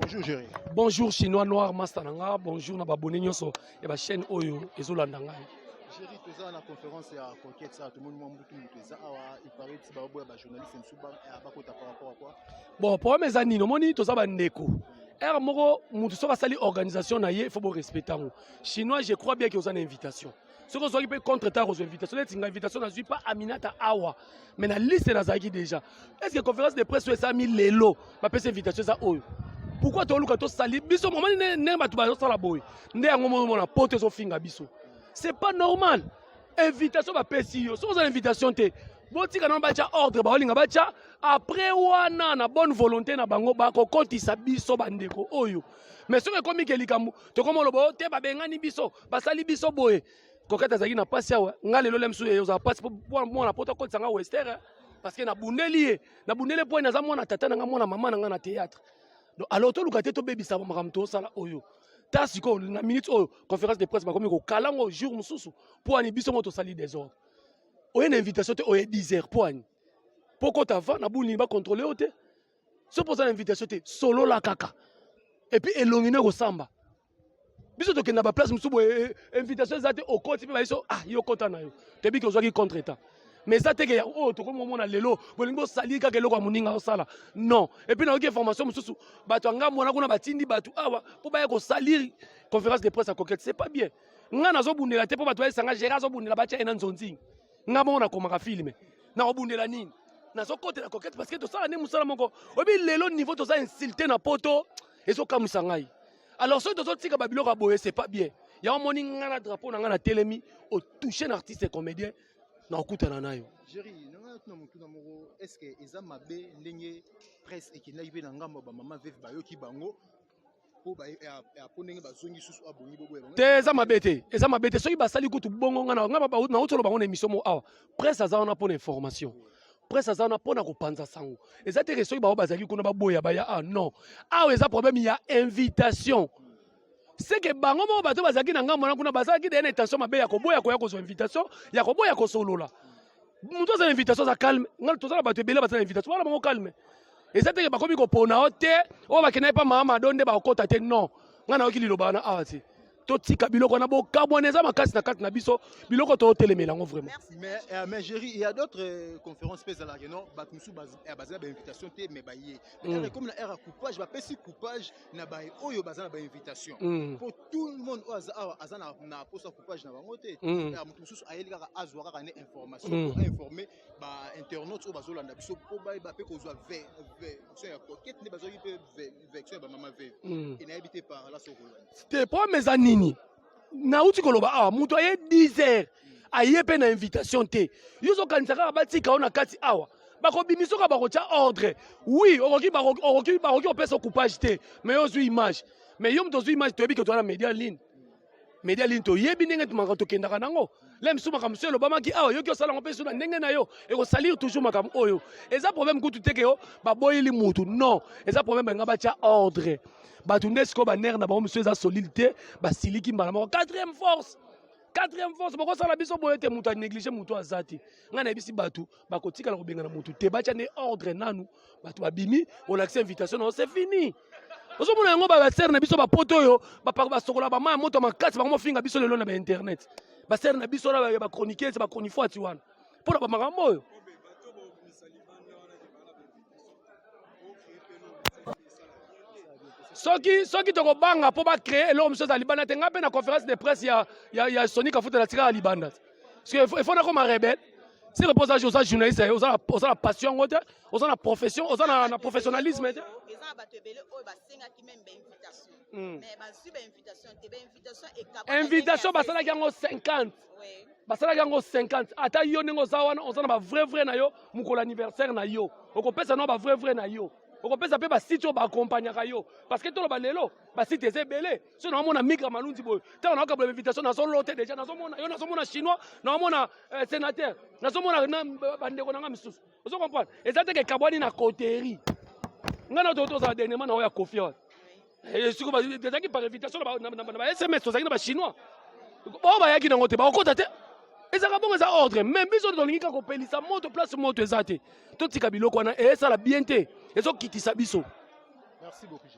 Bonjour Jerry. Bonjour Chinois Noir Master Nanga. Bonjour na babone nyonso ya ba chaîne oyo ezolanda ngai. Jerry toza na conférence ya conquête ça tomoni mwa mbutu moto eza awa il paraît ti baboya ba journaliste mosusu bakota par rapport à quoi bon problème eza nini omoni toza bandeko heure moko moto soki asali organisation na ye il faut borespecte yango chinois je crois bien ke oza na invitation soki ozwaki mpe contre temps kozwa invitation neti nga invitation nazwi mpa aminata awa mais na liste nazalaki déjà est ce que conférence de presse oyo esalami lelo bapesa invitation eza oyo pourquoi toluka tosali biso momani ndenge bato bazosala boye nde yango momona poto ezofinga biso c'est pas normal invitation bapesi yo soki oza na invitation te botika nano batya ordre baolinga batya après wana na bonne volonté na bango bakokotisa biso bandeko oyo mais soki ekomi ke likambo tokoma oloba o oh, te babengani biso basali biso boye kokata azalaki na mpasi awa nga lelo lemsu ye ozala mpasi mpo mwana poto akotisa nga wester eh. parce que nabundeli ye nabundeli mpo naza mwana tata na nga mwana mama na nga na théâtre donc alors toluka te tobebisa makambo tosala oyo ta sikoyo na minute oyo conférence de presse bakomi kokala yango jour mosusu mpo ani biso ngo tosali desordre oye na invitation te oye 10 heures mpo ani mpo kota va na buni bakontrole yo te soki mpo oza na invitation te solola kaka epuis elongi no ekosamba biso tokenda ba place mosusu boye eh, eh, invitation eza te okoti mpe bayeso ah yo kota na yo toyebi ke ozwaki contre temps mais eza teke ya oyo oh, tokomi komona lelo bolingi bosali kaka eloko ya moninga osala non epuis nayoki information mosusu bato ya ngambo wana kuna batindi bato awa mpo baya kosalire conférence de presse ya coquette c'est pas bien ngai nazobundela te mpo bato bayesanga gérard azobundela batya ye na nzonzingi ngai moko nakomaka filme nakobundela nini nazokotela coquette parce que tosala nde mosala moko oyebi lelo niveau toza insulte na poto ezokamwisa ngai alors soki tozotika babiloko ya boye c'est pas bien yango omoni ngai na drapeau na ngai na telemi otouche na artiste comédien na okutana na yo na motuna moko estce eza mabe ndenge presse ekendaki mpe na ngambo ya bamama veve bayoki bango mpo eh, ah, ah, ndenge bazongi susu abongi ah, boboya te eza mabe te eza mabe te soki basali kutu bongo ngai na ngai na utoloba bango na emission moko awa presse aza wana mpo na information presse aza wana mpo na kopanza sango eza teke soki bango bazalaki kuna baboya baya ah non awa eza problème ya invitation seke bango moko bato bazalaki na ngambo wana kuna bazalaki deya na intention mabe ya koboya koya kozwa invitation ya koboya kosolola moto aza na invitation aza calme ngai toza na bato ebele baza na invitation wana bango calme eza teke bakomi kopona o te oyo bakendaki mpa mama mado nde bakokota te non ngai nayoki liloba wana awa te totika biloko wana bokabwana eza makasi na kati na biso biloko totelemela yango vraiment mais, euh, mais géri il y a d'autres euh, conférences mpe ezalaka no bato mosusu eh, baza na bainvitation te mais baye mm. comme na aire ya coupage bapesi coupage na baye oyo baza na bainvitation mm. mpo tout le monde oyo aza awa aza na posa coupage na bango te mm. eh, moto mosusu ayeli kaka azwa kaka ne information mm. po ainforme bainternaute oyo bazolanda biso mpo bayeba mpe kozwa version ya kokete nde bazwaki mpe hmm. te problème eza nini nauti koloba awa moto aye 10 heures aye mpe na invitation te yo ozokanisa kaka batika yo na kati awa bakobimisa oka bakotya ordre oui okoki bakoki kopesa coupage te mais yo ozwi image mais yo moto ozwi image toyebi ke toza na média line media lini toyebi ndenge makambo tokendaka nango le misu makambo mosusu elobamaki awa yoki osala yango mpe suna ndenge na yo ekosalir toujours makambo oyo eza problème kutu te ke yo baboyeli mutu non eza problème balinga batya ordre bato nde sikoyo banere na bango mosusu eza solide te basiliki mbala moko quatrième force quatrième force bokosala biso boye te moto anéglige moto aza te ngai nayebisi bato bakotikala kobengana moto te batya nde ordre nanu bato babimi olakisa invitation na yo c'est fini ozomona yango basere na biso bapoto oyo basokola bamaya moto makasi bango mofinga biso lelo na bainternet basere na biso na bachroniquese bachronifuati wana mpo na bamakambo oyo soki soki tokobanga mpo bacree eloko mosusu eza libanda te ngai mpe na conférence de presse ya, ya, ya soni kafuta na tikaka libanda il faut faut nakoma rebelle c'est le posa oza journaliste eh, oza oza la passion yango te oza na profession oza na, na professionnalisme te eza na bato ebele oyo basengaki meme bainvitation hmm. mais bazwi bainvitation te bainvitation ekaba invitation basalaki yango 50 basalaki yango 50 ata yo ndenge oza wana oza na bavrai vrai na yo mokolo anniversaire na yo okopesa nao bavrai vrai na yo okopesa mpe basite oyo baakompagnaka yo parce que toloba lelo basite eza ebele so naomona mika malunzi boye ntango naokabla invitation nazolote deja nazomona yo nazomona chinois naomona eh, sénateur nazomona bandeko na ngai misusu ozo comprendre eza te kekabwani na coterie ngai na tozala dernièrement na oyo ya kofi wana ezalaki par invitation na ba sms tozalaki na bachinois oyo bayaki nango te bakokota te ezalaka bongo eza ordre mais biso tolingi kaka kopelisa moto place moto eza te totika biloko wana esala bien te ezokitisa biso merci beaucoup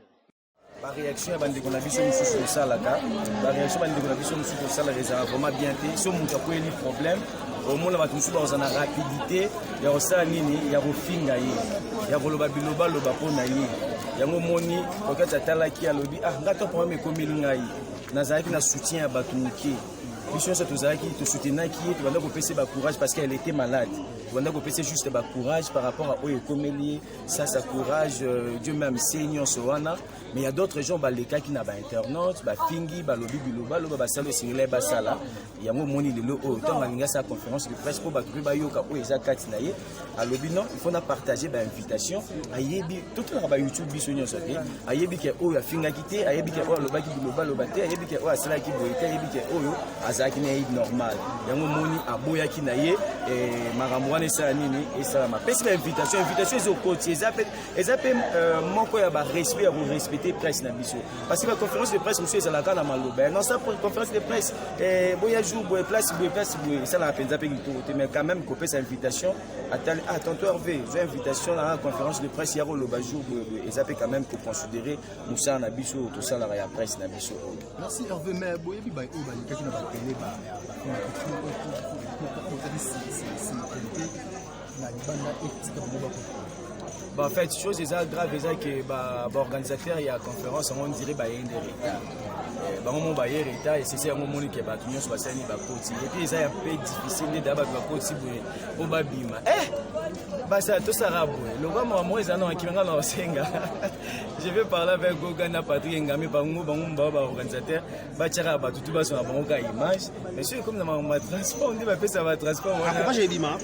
bareaction ya bandeko na biso mosusu tosalaka bareaction bandeko na biso mosusu tosalaka ezalaka vraiment bien te so moto akweli problème omona bato mosusu bakozala na rapidité ya kosala nini ya kofinga ye ya koloba bilobaloba mpo na ye yango omoni kokati atalaki alobi ah ngai to problème ekomeli ngai nazalaki na soutien ya bato moke biso nyonso tozalaki tosutenaki ye tobanda kopesa bacourage parce qu'elle était malade tobanda kopesa juste bacourage par rapport a oyo ekomeli ye ça ça courage euh, Dieu même c'est nyonso wana mais il y a d'autres gens balekaki na ba internautes ba fingi ba lobi biloba loba ba sala singile ba sala yango moni lelo oyo tant balinga sa conférence de presse po ba kubi ba yoka oyo eza kati na ye alobi non il faut na partager ba invitation ayebi tout na ba YouTube biso nyonso te ayebi ke oyo afingaki te ayebi ke oyo alobaki bilobaloba te ayebi ke oyo asalaki boye te ayebi ke oyo azalaki na ye normal yango omoni aboyaki na ye eh, makambo wana esala nini esalama pesi na invitation invitation ezokoti eza mpe eza mpe euh, moko ya barespect ya korespecte presse na biso parce que baconférence de presse mosusu ezalaka na maloba yango sa conférence de presse eh, boya jour boye place boye place boye esalaka mpenza mpe kitoko te mais quand même kopesa invitation atali ah tonto herve zwa invitation na conférence de presse ya koloba jour boye boye eza mpe quand même koconsidere mosala na biso oyo tosalaka ya presse na biso oyo merci herve mais boyebi baye oyo balekaki na batele Bah, en fait, chose eza grave eza que ba, ba organisateur ya conférence yango ondire baye nde retard eh, bango mo baye retard esese yango omoni ke bato nyonso basali bakoti epuis eza ya mpe difficile nde da bato bakoti boye mpo babima eh! basi atosaka boye lokola makambo moko eza na makima ngai na osenga je vais parler avec goga na patrik engambe bango bango mbao baorganisateur batyaka bato tu bazwa na bango ka image mais soki ekomi na makambo ma transport nde bapesa ba transport wana ah,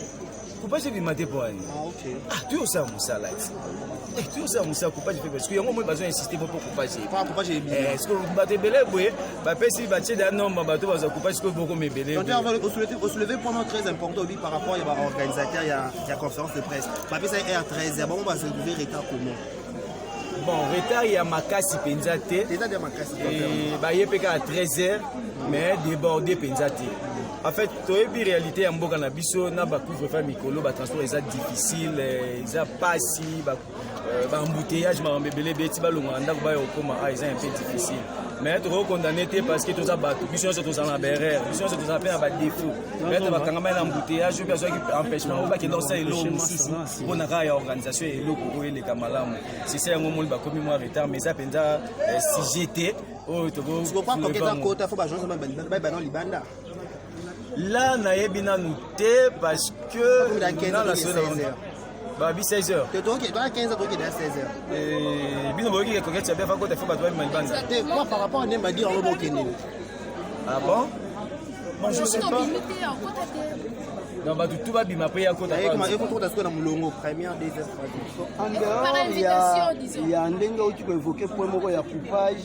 coupage ebima te mpo ani ah, ah, tuyosala mosala ti Eh, toujours ça musa coupage mpe parce que yango moi bazo insiste mpo mpo coupage est ce que bato ebele boye bapesi batie da nombre bato baza coupage sikoyo bokoma ebele osouleve point moko très important obi par rapport ya baorganisateur ya conférence de presse bapesa r 13 ya bango basolve retard comment bon retard ya makasi mpenza te baye mpe kaka 13 heures mais débordé mpenza te en fait toyebi réalité ya mboka na biso na ba couvre feu mikolo ba transport eza difficile eh, eza pasi ba euh, ba embouteillage makambo ebele ebele ti balongola ndako bayo kokoma a ah, eza un peu difficile mais tokoki condamne te parce que toza bato biso nyonso tozala na baerreur biso nyonso tozala mpe na badéfaut peut-être bakangamai na embouteillage oyo azwaki empêchement oyo bakenda kosala eloko mosusu mpo na kaka ya organisation ya eloko oyo eleka malamu sisa yango moni bakomi mwa retard mais eza mpenza eh, sujet te oyo tokoki la nayebi nanu te parce que babi 16 heures bino boyoki ekoketi ya bia fakota fo bato babima libanda par rapport à nemba dire yango bokende ah bon moi je sais pas non bato tu babima mpe yakotaekota sikoyo na molongo première deuxième troisième ya ndenge oki koevoke point moko ya coupage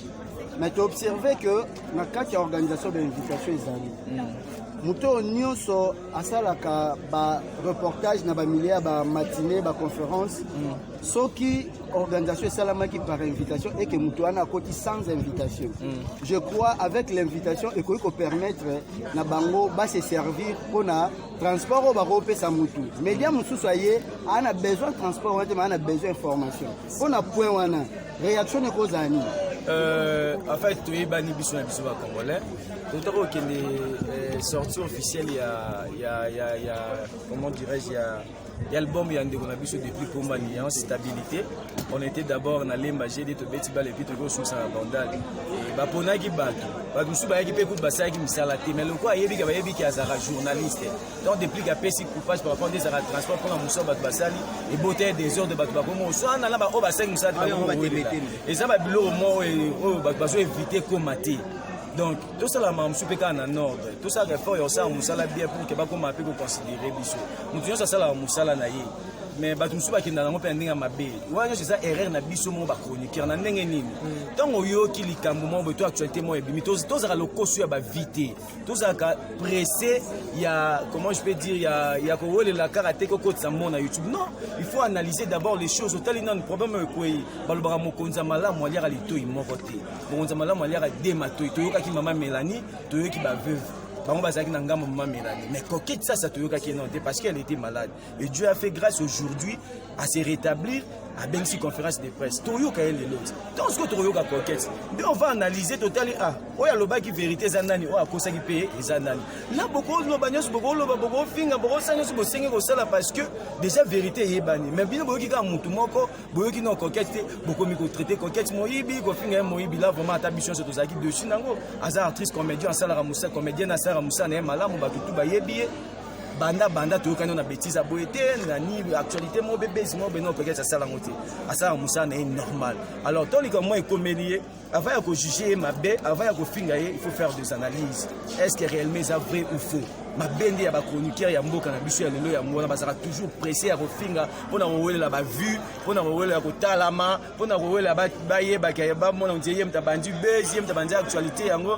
mais toobserve que na kati ya organisation ba invitation ezali moto oyo nyonso asalaka ba reportage na bamilie ya ba matine ba conférence soki organisation esalamaki par invitation eke moto wana akoti sans invitation je crois avec l'invitation ekoki kopermettre na bango base servir mpo na transport oyo bakopesa motu media mosusu aye aa na besoin transport wana te maa na besoin information mpo na point wana reaction nako ozala nini euh, en fait toyebani biso na biso bacongolais totaka kokende euh, sortie officielle ya, ya, ya, ya comment dirais-je ya l'album ya ndeko na biso depuis komba lion stabilité on était d'abord na lemba gd tobeti bale epi tokoki kosusa na bandal baponaki bato bato mosusu bayaki mpe kutu basalaki misala te mais lokola ayebika bayebiki azalaka journaliste donc depuis que apesi coupage par rapport ezaka transport mpona mosala bato basali ebota ya desordre bato bakomi oswana na baoyo basengi mosala te eza babiloko moko oyo bato bazo evite koma te donc tosala makambo mosusu mpe kaka na nordre tosalaka effort ya kosala mosala bien pour ke bakoma mpe koconsidere biso moto nyonso asalaka mosala na ye mais bato mosusu bakenda nango mpe na ndenge ya mabe wana nyonso eza erreur na biso moko bachroniqueur na ndenge nini ntango oyoki likambo moko boye to actualité moko ebimi tozalaka lokoso ya bavie te tozalaka presse ya comment je peux dire ya, ya kowelela kaka te kokotisa mo na youtube non il faut analyser d'abord les choses otali nanu problème oyo ekwei balobaka mokonzi ya malamu aliaka litoi moko te mokonzi ya malamu aliaka de matoi toyokaki mama melanie toyoki baveuve bango bazalaki na ngambo mama melanie mais kokitisa sa toyokaki non te parce qu'elle était malade et Dieu a fait grâce aujourd'hui à se rétablir abengisi conférence de presse toyoka ye lelo ti ntango sikoyo tokoyoka coquete nde on va analyse totali a ah, oyo alobaki verité eza nani oyo akosaki mpe eza nani na bokoloba nyonso bokoloba bokofinga bokosala nyonso bosengi kosala parce que déjà verité eyebani mais bino boyoki kaka motu moko boyoki no coquete te bokomi kotraite coquete moyibi kofinga ye moyibi la vraiment ata biso nyonso tozalaki dessus nango aza artiste comédien asalaka mosa comédienne asalaka mosa na ye malamu bato tu bayebi ye banda banda toyokani na betise boye te nani actualité moko be base moko beno peut-être asala yango te asala mosala na ye normal alors to likambo moko ekomeli ye avant ya kojuge ye mabe avant ya kofinga ye il faut faire des analyses est ce que réellement eza vrai ou faux mabe nde ya bachroniqueur ya mboka na biso ya lelo yango wana bazalaka toujours presse ya kofinga mpo na kowelela bavue mpo na kowelela kotalama mpo na kowelela bayebaka bamona ye mtabandi base ye mtabandi actualité yango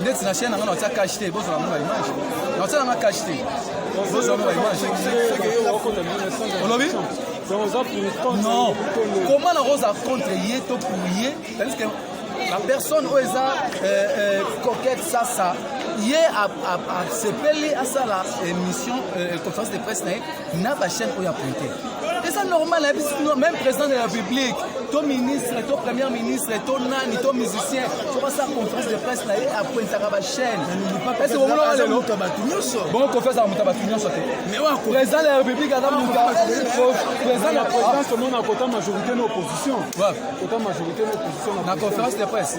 ndeti na chaîne na nga na otia cash te bozala ngo na image na otia na nga cash te bozala ngo na image olobi non comment na rosa contre ye to pour ye tandis que la personne oyo eza euh, euh, coquette sasa ye asepeli asala émission euh, conférence de presse na ye na bachaîne oyo apointe eza normal ayebi sino même président de la république to ministre to première ministre to nani to musicien tokosala conférence de presse na ye apointaka bachaîne ese bomonaka lelo bongo kofi azala moto ya bato nyonso te président de la république aza moto président la présidence omona kota majorité na opposition kota majorité na opposition na conférence de presse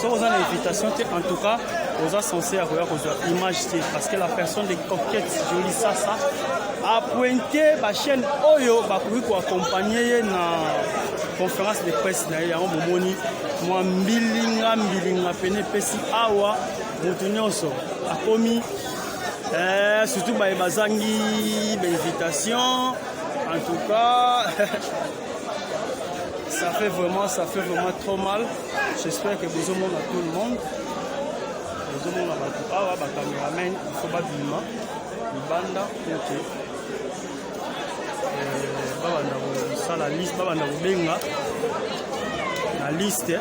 soki oza na invitation te en tout cas oza sense ya koya kozwa image te parce que la personne de coquette joli sasa apointe bachaîne oyo bakoki koaccompagne ye na conférence de presse na ye yango bomoni mwa mbilinga mbilinga pene epesi awa moto nyonso akomi eh, surtout baye bazangi bainvitation en tout cas ça fait vraiment ça fait vraiment trop mal J'espère que bozo mona tout le monde. Bozo mona ba awa ba cameraman il faut ba bima libanda OK. Euh ba banda ko sala liste ba banda ko benga na liste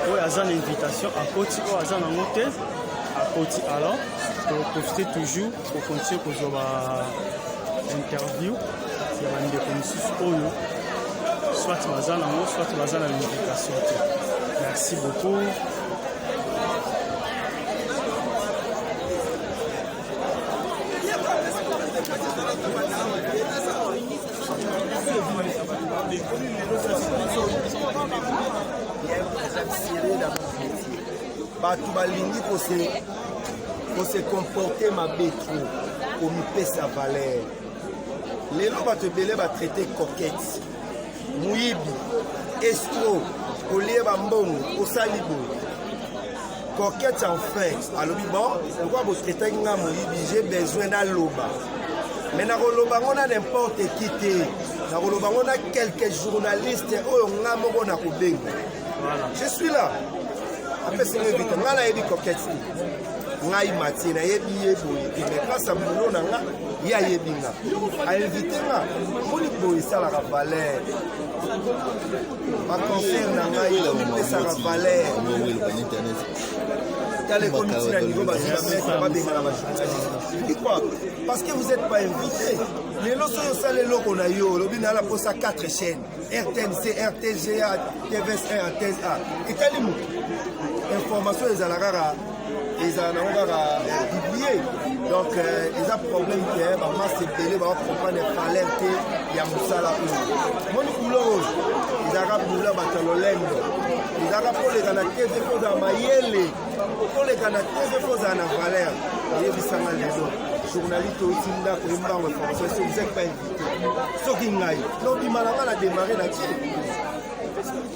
oyo aza na invitation akoti oyo aza nango te akoti alors toprofite toujours Kokontinue kozwa ba interview ya bandeko mosusu oyo soit baza nango soit baza na invitation te merci beaucoup Thank you. bato balingi kose kose comporte mabe tro komipesa valeur lelo bato ebele batraite coquette moyibi estro olie bambongo osali boye coquette en fin alobi bon lokwa botraitaki nga moyibi je besoin naloba mais nakoloba ngo na n'importe qui te nakoloba ngo na quelques journalistes oyo nga moko nakobenga je suis là apesi nga invité nga nayebi coquette te ngai matie nayebi ye boye te mais grâce a boulot na nga ye ayebi nga ainvite nga moni boye esalaka valeur baconcert na ngai epesaka valeur tala ekomi ntina niveau bazwi bamesa babengana bajournaliste pourquoi parce que vous êtes pas invité lelo soki osala eloko na yo olobi nayala mposa 4 chaîne rtnc rtga tvs rtsa etali moto information ezala kaka ezala nango kaka eh, biblie donc eh, eza problème te eh, bamase ebele babakomprendre valeur te ya mosala oyo moni kulo oyo ezalaka bula bato ya lolendo ezalaka koleka na tv kozala mayele koleka na tv kozala na valeur oyebisanga lelo journaliste outi ndako ye mbango information soki soki ngai nobima na ngai na demare na tie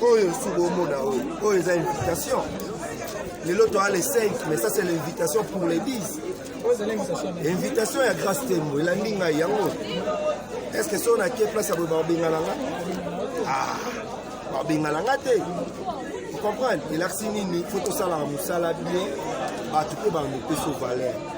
oyo suba omona oyo oyo eza invitation lelo toa le 5 mais ça c'est l'invitation pour les 10 invitation ya grace tembo elandi ngai yango est ce que soki nake place ya boye babengana nga ah, babengana nga te comprendre elakisi nini fo tosalaka mosala bien bato mpe bamopesa valeur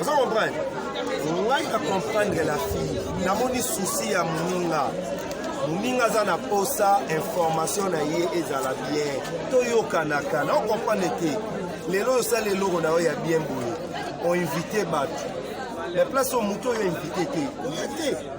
oza comprendre ngai na comprendre la fille namoni susi ya moninga moninga aza na posa information na ye ezala bien toyokanaka na okomprendre te lelo osala eloko na yo ya bien boye oinvite bato na place oyo moto oyo invite te oya te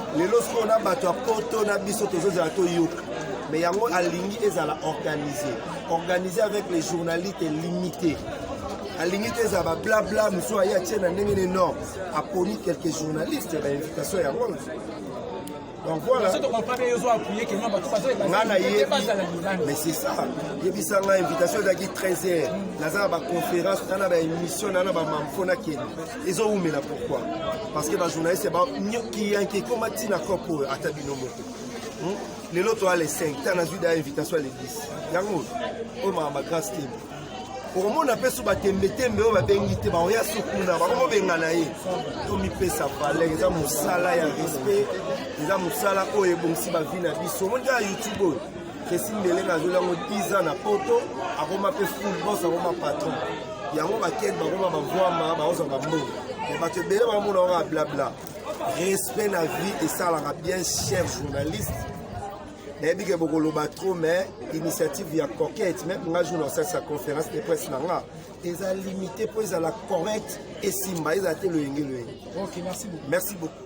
lelo sikoyo na bato ya poto na biso tozozala toyoka me yango alingi ezala organise organise avec les journalistes limité alingi te ezala bablabla mosusu aye atie na ndenge ne non aponi quelques journalistes na invitation yango donc voilà nga nayebi mais c'est ça yebisa nga invitation ezalaki 13 heures naza na baconférence na na baémission na na bamamfo nakende ezo umela pourquoi parce que ba journaliste ba nyoki yanki koma tina kopo oyo ata bino moko hmm? lelo toya le 5 ta nazwi da invitation ya le 10 yango oyo maka ba grace team okomona mpe so batembetembe oyo babengi te baoya so kuna bakomobengana ye tomipesa valeur eza mosala ya respect eza mosala oyo ebongisi bavi na biso omoni kaka youtube oyo kesi ndelenge azoli yango 10 ans na poto akoma mpe full bos akoma patron yango bakende bakoma bavwama bakozwa bambongo me bato ebele bamona yango ya blabla respect na vie esalaka bien cher journaliste nayebi ke bokoloba trop mais initiative ya coquette meme nga jour nasalisa conférence de presse na nga eza limité mpo ezala correct esimba ezala te loyenge loyenge merci beaucoup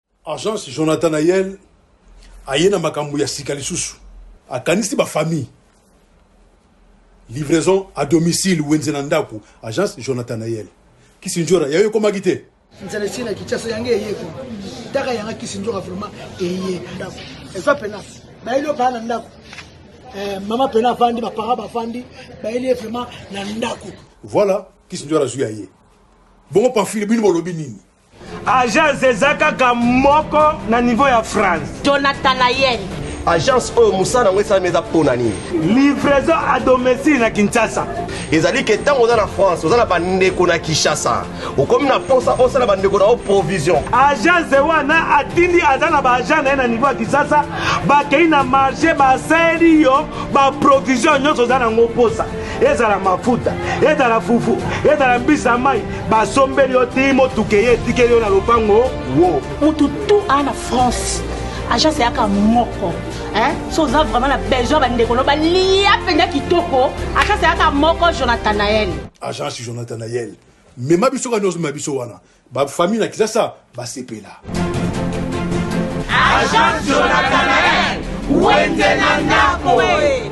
Agence Jonathan Nayel aye na makambo ya sika lisusu, akanisi ba famille livraison à domicile wenze na ndako. Agence Jonathan Nayel Kisindjora yayo ekomaki te nzala esi na Kinshasa yango eye ko taka yanga Kisindjora vraiment eye ndako eza pena bayeli yo baa na ndako eh, mama pena avandi bapara bavandi bayeli ye vraiment na ndako voilà Kisindjora azwi ya ye bongo pamfile bino bolobi nini agence eza kaka moko na niveau ya france jonathan ayel agence oyo mosala yango esalami eza mpo na nini livraison a domicile na kinshasa ezali ke ntango oza na france oza na bandeko na kinshasa okomi na mposa osala bandeko na yo provision agence wana atindi aza na baagent na ye na niveau ya kinshasa bakei na marché basali yo baprovision nyonso oza na yango mposa ezala mafuta ezala fufu ezala mbisi ya mai basombeli yo ti motuka eye etikeli yo na lopango wo motu tu aa na france agence eyaka moko so oza vraiment na besoin bandeko no balia mpenza kitoko agence eyaka moko jonathanael agence jonathanael mema biso kani ozomema biso wana Ba famille na Kinshasa ba sepela. Agent Jonathan Nael, wenze na ndako eh.